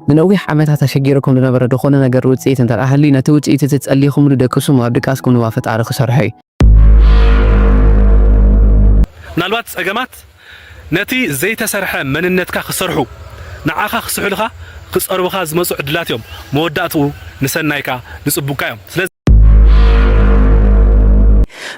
ንነዊሕ ዓመታት ኣሸጊሩኩም ዝነበረ ድኾነ ነገር ውጽኢት እንተ ደኣ ሃልዩ፣ ነቲ ውጽኢት እቲ ጸሊኹምሉ ደቅሱም ኣብ ድቃስኩም ድማ ፈጣሪ ክሰርሖ እዩ። ምናልባት ጸገማት ነቲ ዘይተሰርሐ መንነትካ ክሰርሑ፣ ንዓኻ ክስሕሉኻ፣ ክጸርቡኻ ዝመጹ ዕድላት እዮም። መወዳእትኡ ንሰናይካ፣ ንጽቡቅካ እዮም። ስለዚ።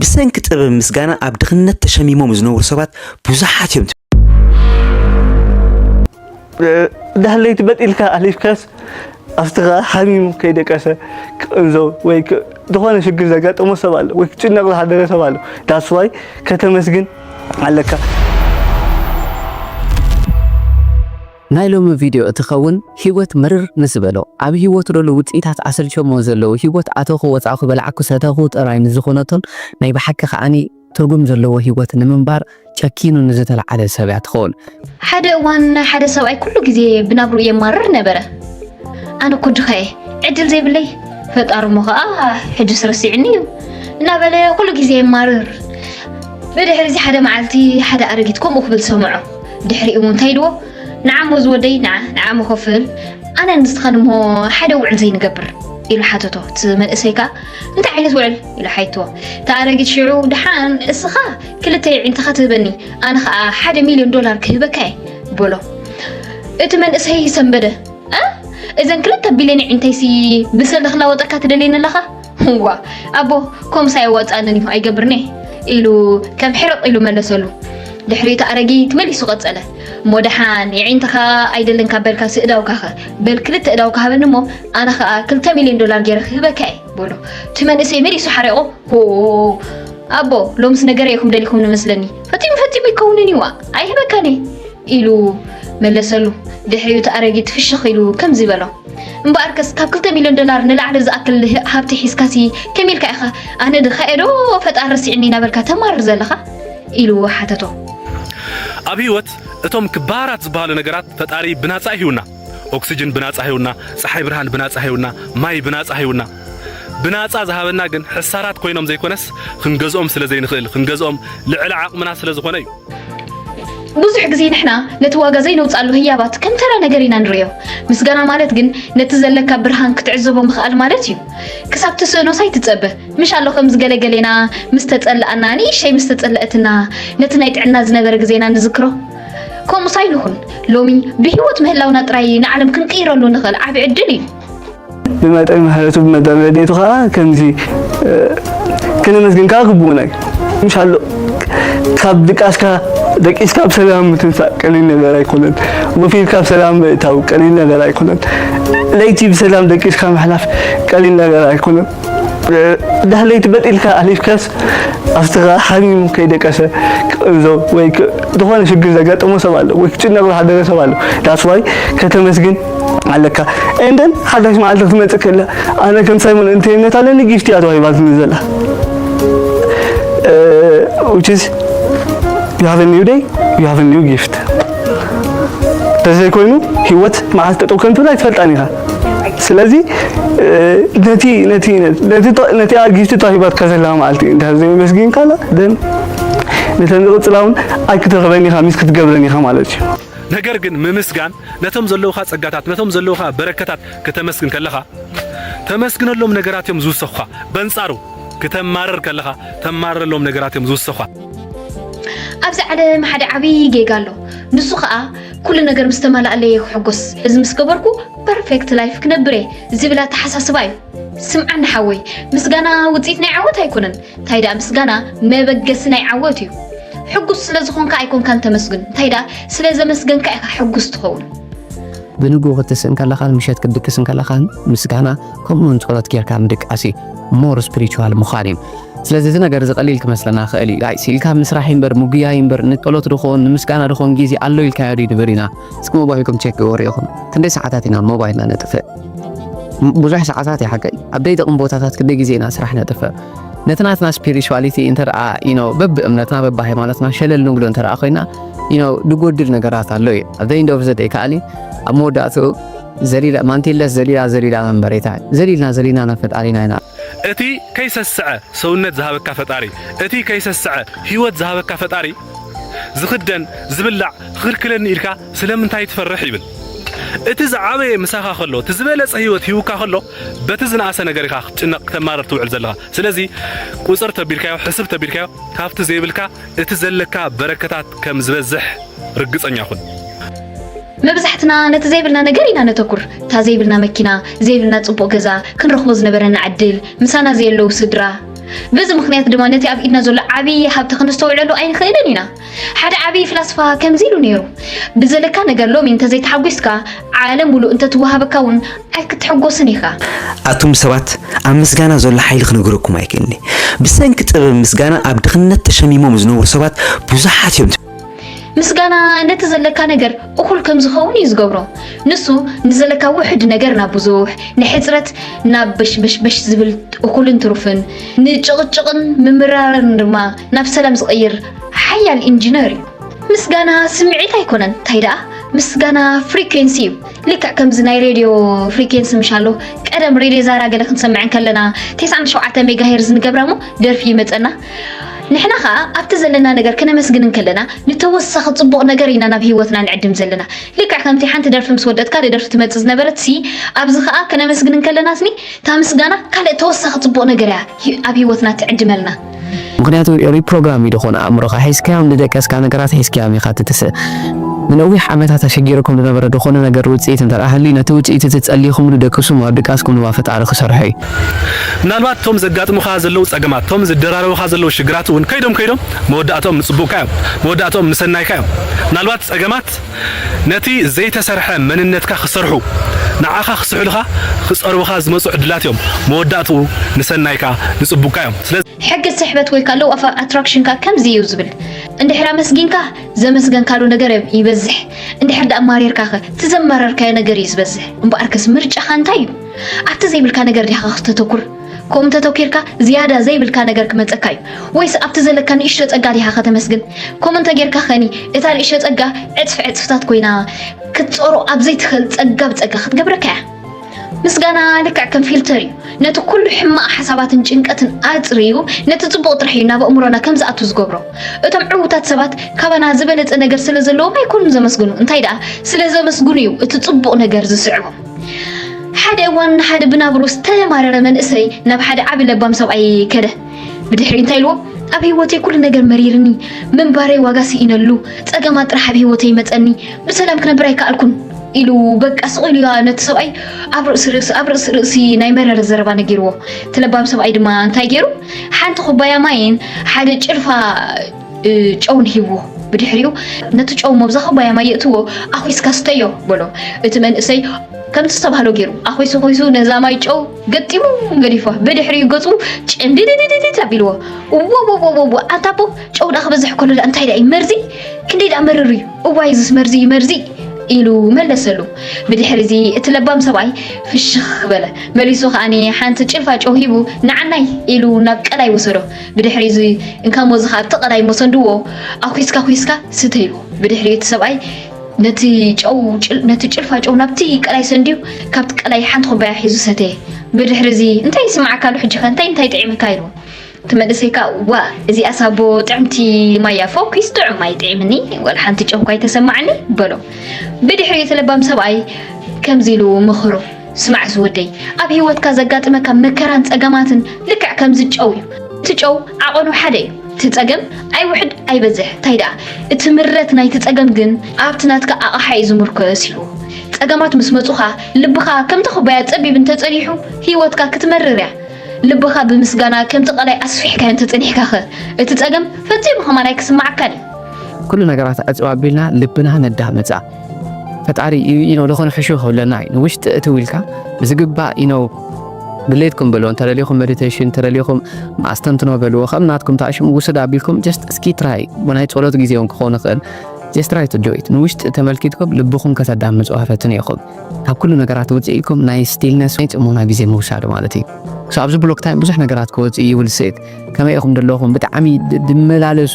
ብሰንኪ ጥበብ ምስጋና ኣብ ድኽነት ተሸሚሞም ዝነብሩ ሰባት ብዙሓት እዮም። ዳህለይቲ በጢልካ ኣሊፍካስ ኣስትኻ ሓሚሙ ከይደቀሰ ክቕንዞ ወይ ዝኾነ ሽግር ዘጋጠሞ ሰብ ኣሎ ወይ ክጭነቕ ዝሓደረ ሰብ ኣሎ ዳስዋይ ከተመስግን ኣለካ ናይ ሎሚ ቪድዮ እትኸውን ህይወት ምርር ምስ በሎ ኣብ ህይወቱ ደሎ ውፅኢታት ኣሰልቸሞ ዘለዉ ህይወት ኣተኹ ወፃእኹ በላዕኩ ሰተኹ ጥራይ ምስ ዝኾነቶን ናይ ብሓቂ ከዓኒ ትርጉም ዘለዎ ህይወት ንምንባር ጨኪኑ ንዝተለዓለ ሰብ እያ ትኸውን። ሓደ እዋን ሓደ ሰብኣይ ኩሉ ግዜ ብናብርኡ የማርር ነበረ። ኣነ እኮ ድኻ እየ፣ ዕድል ዘይብለይ ፈጣሪ እሞ ከዓ ሕጅስ ረሲዕኒ እዩ እናበለ ኩሉ ግዜ የማርር። ብድሕሪ እዚ ሓደ መዓልቲ ሓደ ኣረጊት ከምኡ ክብል ሰምዖ። ድሕሪኡ እንታይ ኢልዎ? ንዓሞ ዝወደይ ንዓ ንዓሞ ከፍል ኣነ ንስኻን እሞ ሓደ ውዕል ዘይንገብር ኢሉ ሓተቶ። እቲ መንእሰይ ከዓ እንታይ ዓይነት ውዕል ኢለ ሓይቶ እታ ኣረጊት ሽዑ ድሓን እስኻ ክልተ የዒንትኻ ትህበኒ ኣነ ኸዓ ሓደ ሚልዮን ዶላር ክህበካ እየ በሎ እቲ መንእሰይ ሰንበደ እዘን ክልተ ቢልዮን የዒንተይሲ ብሰለ ክላወጠካ ትደልየኒ ኣለኻ ዋ ኣቦ ከምኡስ ኣየዋፅኣንን እዩ ኣይገብርኒ ኢሉ ከም ሕርቕ ኢሉ መለሰሉ ድሕሪ እቲ ኣረጊት መሊሱ ቀፀለ እሞ ደሓን የዒንትኻ ኣይደልን ካብ በልካ ስእዳውካኸ በል ክልተ እዳውካ ሃበኒ እሞ ኣነ ከዓ ክልተ ሚልዮን ዶላር ገይረ ክህበካ እየ በሎ እቲ መንእሰይ መሊሱ ሓሪቑ ኣቦ ሎምስ ነገረ ኢኹም ደሊኹም ንመስለኒ ፈፂሙ ፈፂሙ ይከውንን ይዋ ኣይህበካኒ ኢሉ መለሰሉ ድሕሪኡ እቲ ኣረጊት ፍሽኽ ኢሉ ከምዚ በሎ እምበኣርከስ ካብ ክልተ ሚልዮን ዶላር ንላዕሊ ዝኣክል ሃብቲ ሒዝካሲ ከመይ ኢልካ ኢኻ ኣነ ድኻ ኤዶ ፈጣሪ ረሲዕኒ እናበልካ ተማርር ዘለኻ ኢሉ ሓተቶ ኣብ ህይወት እቶም ክባራት ዝበሃሉ ነገራት ፈጣሪ ብናፃ ይህውና ኦክስጅን ብናጻ ሂቡና፣ ጸሓይ ብርሃን ብናጻ ሂቡና፣ ማይ ብናጻ ሂቡና። ብናጻ ዝሃበና ግን ሕሳራት ኮይኖም ዘይኮነስ ክንገዝኦም ስለ ዘይንኽእል፣ ክንገዝኦም ልዕሊ ዓቕምና ስለ ዝኾነ እዩ። ብዙሕ ግዜ ንሕና ነቲ ዋጋ ዘይነውጻሉ ህያባት ከም ተራ ነገር ኢና ንርእዮ። ምስጋና ማለት ግን ነቲ ዘለካ ብርሃን ክትዕዘቦ ምኽኣል ማለት እዩ። ክሳብ ትስእኖስ ኣይትጸበ። ምሽ ኣሎ ከምዚ ገለ ገሌና ምስ ተጸልኣና፣ ንእሸይ ምስ ተጸለኣትና፣ ነቲ ናይ ጥዕና ዝነበረ ግዜና ንዝክሮ። ከምኡስ ኣይንኹን። ሎሚ ብህይወት ምህላውና ጥራይ እዩ ንዓለም ክንቅይረሉ ንኽእል ዓቢ ዕድል እዩ። ብመጠን ምሕረቱ ብመጠን ረድኤቱ ከዓ ከምዚ እ፣ ክነመስግን ከዓ ግቡእና እዩ ምሻሎ ካብ ድቃስካ ደቂስካ ብ ሰላም ምትንሳእ ቀሊል ነገር ኣይኮነን ወፊርካ ብ ሰላም ምእታው ቀሊል ነገር ኣይኮነን ለይቲ ብሰላም ደቂስካ ምሕላፍ ቀሊል ነገር ኣይኮነን ዳህለይቲ በጢልካ ኣሊፍካስ ኣብትኻ ሓሚሙ ከይደቀሰ ክእዞ ወይ ዝኾነ ሽግር ዘጋጠሞ ሰብ ኣሎ ወይ ክጭነቕ ዝሓደረ ሰብ ኣሎ ዳስዋይ ከተመስግን ኣለካ እንደን ሓዳሽ መዓልቲ ክትመፅእ ከላ ኣነ ከም ሳይሞን እንተይነት ኣለኒ ጊፍቲ እያ ተዋሂባትኒ ዘላ which is you have a new day you have a new gift ተዘይኮይኑ ህይወት መዓልቲ ጠጠው ከምትብላ ኣይትፈልጣን ኢኻ ስለዚ ነቲ ነቲ ነቲ ጊፍቲ ተዋሂባትካ ዘላ መዓልቲ እንድሕር ዘየመስጊንካላ ደን ነተን ዝቕፅላ እውን ኣይክትረኽበን ኢኻ ሚስ ክትገብረን ኢኻ ማለት እዩ ነገር ግን ምምስጋን ነቶም ዘለውኻ ጸጋታት ነቶም ዘለውኻ በረከታት ከተመስግን ከለኻ ተመስግነሎም ነገራት እዮም ዝውሰኹኻ በንጻሩ ክተማርር ከለኻ ተማርረሎም ነገራት እዮም ዝውሰኹኻ ኣብዚ ዓለም ሓደ ዓብይ ጌጋ ኣሎ ንሱ ከዓ ኩሉ ነገር ምስ ተማላኣለይ እየ ክሕጎስ እዚ ምስ ገበርኩ ፐርፌክት ላይፍ ክነብር እየ ዝብል ኣተሓሳስባ እዩ ስምዓኒ ሓወይ ምስጋና ውፅኢት ናይ ዓወት ኣይኮነን እንታይ ደኣ ምስጋና መበገሲ ናይ ዓወት እዩ ሕጉስ ስለ ዝኾንካ ኣይኮንካን ተመስግን እንታይ ደኣ ስለ ዘመስገንካ ኢኻ ሕጉስ ትኸውን ብንግኡ ክትስእን ከለኻን ምሸት ክትድቅስ ከለኻን ምስጋና ከምኡ ውን ጸሎት ጌርካ ምድቃስ እዩ ሞር ስፒሪቹዋል ምዃን እዩ ስለዚ እዚ ነገር እዚ ቀሊል ክመስለና ክእል እዩ ጋይስ ኢልካ ምስራሕ ይምበር ምጉያይ ይምበር ንጸሎት ድኾን ንምስጋና ድኾን ግዜ ኣሎ ኢልካዮ ድዩ ንብር ኢና እስኪ ሞባይልኩም ቼክ ግበሩ ኢኹም ክንደይ ሰዓታት ኢና ሞባይልና ነጥፍእ ብዙሕ ሰዓታት እዩ ሓቀይ ኣብ ደይጥቕም ቦታታት ክንደይ ግዜ ኢና ስራሕ ነጥፍእ ነቲ ናትና ስፒሪቹዋሊቲ እንተደኣ ኢኖ በብ እምነትና በብ ሃይማኖትና ሸለል ንብሎ እንተደኣ ኮይና ኢኖ ድጎድል ነገራት ኣሎ እዩ ኣብ ዘይ ኢንድ ኦፍ ዘ ደይ ከኣኒ ኣብ መወዳእትኡ ዘሊላ ማንቲለስ ዘሊላ ዘሊላ መንበሬታ ዘሊልና ዘሊና ናብ ፈጣሪና ኢና። እቲ ከይሰስዐ ሰውነት ዝሃበካ ፈጣሪ እቲ ከይሰስዐ ሂወት ዝሃበካ ፈጣሪ ዝኽደን ዝብላዕ ክኽልክለኒ ኢልካ ስለምንታይ ትፈርሕ ይብል እቲ ዝዓበየ ምሳኻ ከሎ እቲ ዝበለጸ ሂወት ሂውካ ከሎ በቲ ዝነኣሰ ነገር ኢኻ ክትጭነቕ ክተማርር ትውዕል ዘለኻ ስለዚ ቁጽር ተቢልካዮ ሕስብ ተቢልካዮ ካብቲ ዘይብልካ እቲ ዘለካ በረከታት ከም ዝበዝሕ ርግጸኛ ኩን መብዛሕትና ነቲ ዘይብልና ነገር ኢና ነተኩር፣ እታ ዘይብልና መኪና፣ ዘይብልና ጽቡቕ ገዛ፣ ክንረኽቦ ዝነበረና ዕድል፣ ምሳና ዘየለዉ ስድራ። በዚ ምኽንያት ድማ ነቲ ኣብ ኢድና ዘሎ ዓብዪ ሃብቲ ክንስተውዕለሉ ኣይንኽእልን ኢና። ሓደ ዓብዪ ፍላስፋ ከምዚ ኢሉ ነይሩ፣ ብዘለካ ነገር ሎሚ እንተዘይተሓጒስካ፣ ዓለም ምሉእ እንተትወሃበካ እውን ኣይክትሕጎስን ኢኻ። ኣቱም ሰባት ኣብ ምስጋና ዘሎ ሓይሊ ክነግረኩም ኣይክእልኒ ብሰንኪ ጥበብ ምስጋና ኣብ ድኽነት ተሸሚሞም ዝነብሩ ሰባት ብዙሓት እዮም። ምስጋና ነቲ ዘለካ ነገር እኹል ከም ዝኸውን እዩ ዝገብሮ። ንሱ ንዘለካ ውሕድ ነገር ናብ ብዙሕ፣ ንሕፅረት ናብ በሽበሽበሽ ዝብል እኹልን ትሩፍን፣ ንጭቕጭቕን ምምራርን ድማ ናብ ሰላም ዝቕይር ሓያል ኢንጂነር እዩ። ምስጋና ስምዒት ኣይኮነን እንታይ ደኣ ምስጋና ፍሪኩንሲ እዩ ልክዕ ከምዚ ናይ ሬድዮ ፍሪኩንሲ ምሻሎ ቀደም ሬድዮ ዛራ ገለ ክንሰምዕ ከለና 97 ሜጋ ሄርዝ ንገብራ እሞ ደርፊ ይመፀና ንሕና ከኣ ኣብቲ ዘለና ነገር ክነመስግን እንከለና ንተወሳኺ ጽቡቕ ነገር ኢና ናብ ህይወትና ንዕድም ዘለና ልክዕ ከምቲ ሓንቲ ደርፊ ምስ ወደት ካልእ ደርፊ ትመጽእ ዝነበረት ሲ ኣብዚ ከኣ ክነመስግን እንከለና ስኒ እታ ምስጋና ካልእ ተወሳኺ ጽቡቕ ነገር እያ ኣብ ህይወትና ትዕድመልና ምክንያቱ ሪፕሮግራም እዩ ዝኾነ ኣእምሮኻ ሒዝካዮም ዝደቀስካ ነገራት ሒዝካዮም ኢኻ ትትስእ ንነዊሕ ዓመታት ኣሸጊርኩም ዝነበረ ዝኾነ ነገር ውፅኢት እንተደኣ ሃልዩ ነቲ ውፅኢት እቲ ፀሊኹምሉ ደቅሱም ኣብ ድቃስኩም ድማ ፈጣሪ ክሰርሖ እዩ ምናልባት እቶም ዘጋጥሙኻ ዘለዉ ጸገማት፣ እቶም ዝደራረቡኻ ዘለዉ ሽግራት እውን ከይዶም ከይዶም መወዳእትኦም ንጽቡቕካ እዮም። መወዳእትኦም ንሰናይካ እዮም። ምናልባት ጸገማት ነቲ ዘይተሰርሐ መንነትካ ክሰርሑ፣ ንዓኻ ክስሕሉኻ፣ ክጸርቡኻ ዝመጹ ዕድላት እዮም። መወዳእትኡ ንሰናይካ፣ ንጽቡቕካ እዮም። ሕጊ ስሕበት ወይ ከኣ Law of Attraction ከኣ ከምዚ እዩ ዝብል፣ እንድሕር ኣመስጊንካ ዘመስገንካሉ ነገር ይበዝሕ፣ እንድሕር ደኣ ማሪርካኸ እቲ ዘማረርካዮ ነገር እዩ ዝበዝሕ። እምበኣርከስ ምርጫኻ እንታይ እዩ? ኣብቲ ዘይብልካ ነገር ዲኻ ከተተኩር ከምኡ እንተተኪርካ ዝያዳ ዘይብልካ ነገር ክመፀካ እዩ ወይስ ኣብቲ ዘለካ ንእሽቶ ፀጋ ዲኻ ከተመስግን ከምኡ እንተጌርካ ኸኒ እታ ንእሽቶ ፀጋ ዕፅፊ ዕፅፍታት ኮይና ክትፀሮ ኣብ ዘይትኽእል ፀጋ ብፀጋ ክትገብረካ እያ ምስጋና ልክዕ ከም ፊልተር እዩ ነቲ ኩሉ ሕማቕ ሓሳባትን ጭንቀትን ኣፅርዩ ነቲ ፅቡቕ ጥራሕ እዩ ናብ ኣእምሮና ከም ዝኣቱ ዝገብሮ እቶም ዕውታት ሰባት ካባና ዝበለፀ ነገር ስለ ዘለዎም ኣይኮኑን ዘመስግኑ እንታይ ደኣ ስለ ዘመስግኑ እዩ እቲ ፅቡቕ ነገር ዝስዕቦም ሓደ እዋን ሓደ ብናብሩ ዝተማረረ መንእሰይ ናብ ሓደ ዓቢ ለባም ሰብኣይ ከደ ብድሕሪ እንታይ ኢልዎ ኣብ ህይወተይ ኩሉ ነገር መሪርኒ ምንባረይ ዋጋ ስኢነሉ ፀገማት ጥራሕ ኣብ ህይወተይ መፀኒ ብሰላም ክነብር ኣይከኣልኩን ኢሉ በቃ ስቕ ኢሉ ነቲ ሰብኣይ ኣብ ርእሲ ርእሲ ኣብ ርእሲ ርእሲ ናይ መረረ ዘረባ ነጊርዎ እቲ ለባም ሰብኣይ ድማ እንታይ ገይሩ ሓንቲ ኩባያ ማይን ሓደ ጭልፋ ጨውን ሂብዎ ብድሕሪኡ ነቲ ጨው መብዛ ኩባያ ማይ የእትዎ ኣኹስካ ስተዮ በሎ እቲ መንእሰይ ከምቲ ዝተባህሎ ገይሩ ኣኹሱ ኹሱ ነዛ ማይ ጨው ገጢሙ ገዲፏ ብድሕሪኡ ገፁ ጭንድድድድድ ኣቢልዎ እወወወወወ ኣንታ ኣቦ ጨው ዳ ክበዝሕ ከሎ ዳ እንታይ ዳ እዩ መርዚ ክንደይ ዳ መርር እዩ እዋይ እዝስ መርዚ እዩ መርዚ ኢሉ መለሰሉ ብድሕሪ እዚ እቲ ለባም ሰብኣይ ፍሽኽ በለ መሊሱ ከዓኒ ሓንቲ ጭልፋ ጨው ሂቡ ንዓናይ ኢሉ ናብ ቀላይ ወሰዶ ብድሕሪ እዚ እንካም ወዝኻ ኣብ ጥቕ ናይ መሰንድዎ ኣኩስካ ኩስካ ስተ ኢልዎ። ብድሕሪኡ እቲ ሰብኣይ ነቲ ጨው ነቲ ጭልፋ ጨው ናብቲ ቀላይ ሰንድዩ ካብቲ ቀላይ ሓንቲ ኩባያ ሒዙ ሰተየ። ብድሕሪ እዚ እንታይ ይስምዓካ ኣሎ ሕጂኸ እንታይ እንታይ ጥዒምካ ኢልዎ። እቲ መንእሰይ ከኣ ዋእ እዚኣስ ኣቦ ጥዕምቲ ማይ እያ ፈኲስ ጥዑም ማይ ጥዒምኒ ዋላ ሓንቲ ጨው እኳ ኣይተሰማዓኒ በሎ። ብድሕሪኡ እቲ ለባም ሰብኣይ ከምዚ ኢሉ መኸሮ። ስማዕ ዝወደይ ኣብ ሂወትካ ዘጋጥመካ መከራን ጸገማትን ልክዕ ከምዚ ጨው እዩ እቲ ጨው ዓቐኑ ሓደ እዩ እቲ ጸገም ኣይውሕድ ኣይበዝሕ ታይ ደኣ እቲ ምረት ናይቲ ጸገም ግን ኣብቲ ናትካ ኣቕሓ እዩ ዝምርኮስ ኢልዎ ጸገማት ምስ መጹኻ ልብኻ ከምቲ ኩባያ ጸቢብ እንተጸኒሑ ሂወትካ ክትመርር እያ ልብኻ ብምስጋና ከምቲ ቀላይ ኣስፊሕካዮ እንተጸኒሕካኸ እቲ ጸገም ፈጺሙ ከማን ኣይክስማዓካን እዩ ኩሉ ነገራት ዕጽው ኣቢልና ልብና ነዳምጻ ፈጣሪ ኢኖ ልኾነ ሕሹ ክብለና እዩ ንውሽጢ እቲ ውልካ ብዝግባእ ኢኖ ድሌትኩም በልዎ እንተደሊኹም ሜዲቴሽን እንተደሊኹም ኣስተንትኖ በልዎ ከም ናትኩም ታሽሙ ውስድ ኣቢልኩም ጀስት እስኪ ትራይ ናይ ጸሎት ግዜ እውን ክኾን ይኽእል ጀስት ትራይ ቱ ዶይት ንውሽጢ ተመልኪትኩም ልብኹም ከተዳምጹ ፈትኑ ኢኹም ካብ ኩሉ ነገራት ውፅኢኩም ናይ ስቲልነስ ናይ ጽሞና ግዜ ምውሳድ ማለት እዩ ኣብዚ ብሎክ ታይም ብዙሕ ነገራት ክወፅእ ይውልስት ከመይ ኢኹም ደለኹም ብጣዕሚ ድመላለሱ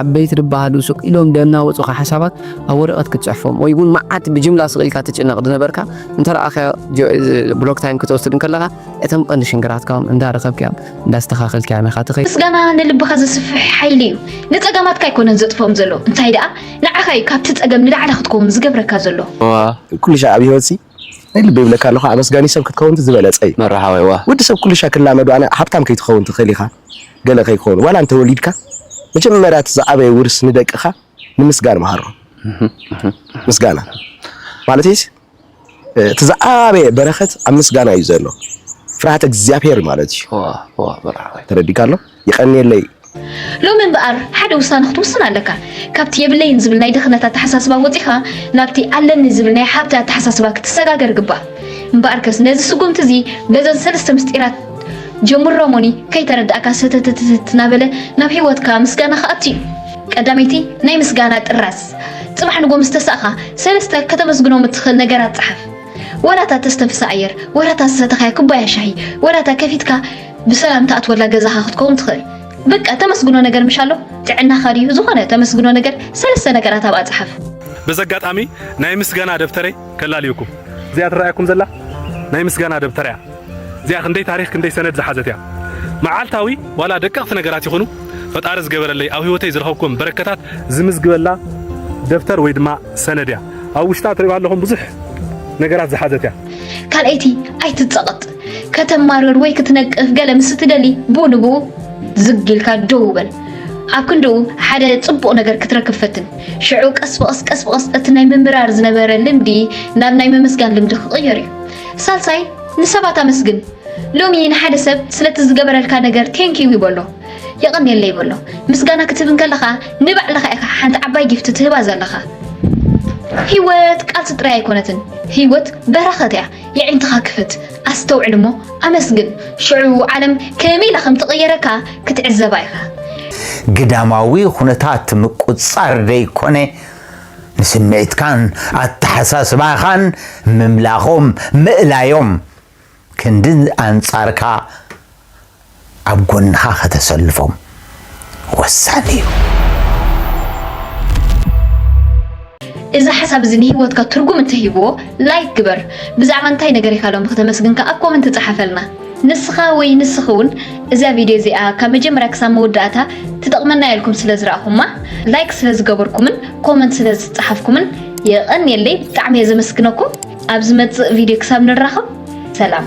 ዓበይቲ ድበሃሉ ሱቅ ኢሎም ደናወፁኻ ሓሳባት ኣብ ወረቐት ክትፅሕፎም ወይ እውን መዓት ብጅምላ ስቕ ኢልካ ትጭነቕ ዝነበርካ እንተረኣኻዮ ብሎክ ታይም ክትወስድ እንከለኻ እቶም ቀንዲ ሽንግራትካውን እንዳረኸብካዮም እንዳስተኻኸልካዮም ኢኻ ትኸይድ። ምስጋና ንልብኻ ዘስፍሕ ሓይሊ እዩ። ንፀገማትካ ኣይኮነን ዘጥፍኦም ዘሎ እንታይ ደኣ ንዓኻ እዩ ካብቲ ፀገም ንላዕሊ ክትከውን ዝገብረካ ዘሎ። ኩሉ ሻዕ ኣብ ህይወትሲ ናይ ልበይ ይብለካ ኣለኩ ኣመስጋኒ ሰብ ክትከውን ዝበለጸ እዩ መራሃዋይ ዋእ ወዲ ሰብ ኩሉሻ ክላመዶ ኣነ ሃብታም ከይትከውን ትክእል ኢካ ገለ ከይኮኑ ዋላ እንተ ወሊድካ መጀመርያ እቲ ዝዓበየ ውርስ ንደቅካ ንምስጋን መሃሮም ምስጋና ማለተይስ እቲ ዝዓበየ በረከት ኣብ ምስጋና እዩ ዘሎ ፍርሃተ እግዚኣብሔር ማለት እዩ ተረዲካ ኣሎ። የቀንየለይ። ሎሚ እምበኣር ሓደ ውሳነ ክትውስን ኣለካ። ካብቲ የብለይን ዝብል ናይ ድኽነት ኣተሓሳስባ ወጺኻ ናብቲ ኣለኒ ዝብል ናይ ሃብቲ ኣተሓሳስባ ክትሰጋገር ይግባእ። እምበኣርከስ ነዚ ስጉምቲ እዚ በዘን ሰለስተ ምስጢራት ጀምሮ እሞኒ ከይተረድኣካ ሰተተተተት እናበለ ናብ ህይወትካ ምስጋና ክኣቱ እዩ። ቀዳመይቲ ናይ ምስጋና ጥራዝ ጽባሕ ንጎ ምስ ተሳእኻ ሰለስተ ከተመስግኖም እትኽእል ነገራት ጸሓፍ። ወላ እታ እተስተንፍሳ ኣየር፣ ወላ እታ ዝሰተኻያ ኩባያ ሻሂ፣ ወላ እታ ከፊትካ ብሰላም ትኣትወላ ገዛኻ ክትከውን ትኽእል። በቃ ተመስግኖ ነገር ምሽ ኣሎ ጥዕናኻ ድዩ ዝኾነ ተመስግኖ ነገር ሰለስተ ነገራት ኣብኣ ጸሓፍ። በዚ ኣጋጣሚ ናይ ምስጋና ደብተረይ ከላልየኩም። እዚኣ ትረኣየኩም ዘላ ናይ ምስጋና ደብተር እያ። እዚኣ ክንደይ ታሪኽ ክንደይ ሰነድ ዝሓዘት እያ። መዓልታዊ ዋላ ደቀቕቲ ነገራት ይኹኑ ፈጣሪ ዝገበረለይ ኣብ ህይወተይ ዝረኸብኩም በረከታት ዝምዝግበላ ደብተር ወይ ድማ ሰነድ እያ። ኣብ ውሽጣ ትሪእዋ ኣለኹም ብዙሕ ነገራት ዝሓዘት እያ። ካልኣይቲ ኣይትጸቐጥ ከተማርር ወይ ክትነቅፍ ገለ ምስ እትደሊ ብኡ ንብኡ ዝግ ኢልካ ደው በል ኣብ ክንድኡ ሓደ ፅቡቕ ነገር ክትረክብ ፈትን ሽዑ ቀስ ብቐስ ቀስ ብቐስ እቲ ናይ ምምራር ዝነበረ ልምዲ ናብ ናይ ምምስጋን ልምዲ ክቕየር እዩ ሳልሳይ ንሰባት ኣመስግን ሎሚ ንሓደ ሰብ ስለቲ ዝገበረልካ ነገር ቴንኪዩ ይበሎ የቐንየለይ ይበሎ ምስጋና ክትህብ እንከለኻ ንባዕልኻ ኢኻ ሓንቲ ዓባይ ጊፍቲ ትህባ ዘለኻ ህይወት ቃልሲ ጥራይ ኣይኮነትን ህይወት በረኸት እያ የዒንትኻ ክፈት ኣስተውዕል እሞ ኣመስግን ሽዑ ዓለም ከመይ ኢላ ከም ትቕየረካ ክትዕዘባ ኢኻ። ግዳማዊ ኹነታት ምቁጽጻር ዘይኮነ ንስምዒትካን ኣተሓሳስባኻን ምምላኾም ምእላዮም ክንዲ ኣንጻርካ ኣብ ጎንኻ ከተሰልፎም ወሳኒ እዩ። እዚ ሓሳብ እዚ ንሂወትካ ትርጉም እንተሂብዎ ላይክ ግበር። ብዛዕባ እንታይ ነገር ኢኻ ሎሚ ክተመስግን ከኣ ኣብ ኮመንት ጸሓፈልና። ንስኻ ወይ ንስኺ ውን እዛ ቪድዮ እዚኣ ካብ መጀመርያ ክሳብ መወዳእታ ትጠቕመና እያ ኢልኩም ስለ ዝረኣኹማ ላይክ ስለ ዝገበርኩምን ኮመንት ስለ ዝጸሓፍኩምን የቐንየለይ ብጣዕሚ እየ ዘመስግነኩም። ኣብ ዝመጽእ ቪድዮ ክሳብ ንራኸብ ሰላም።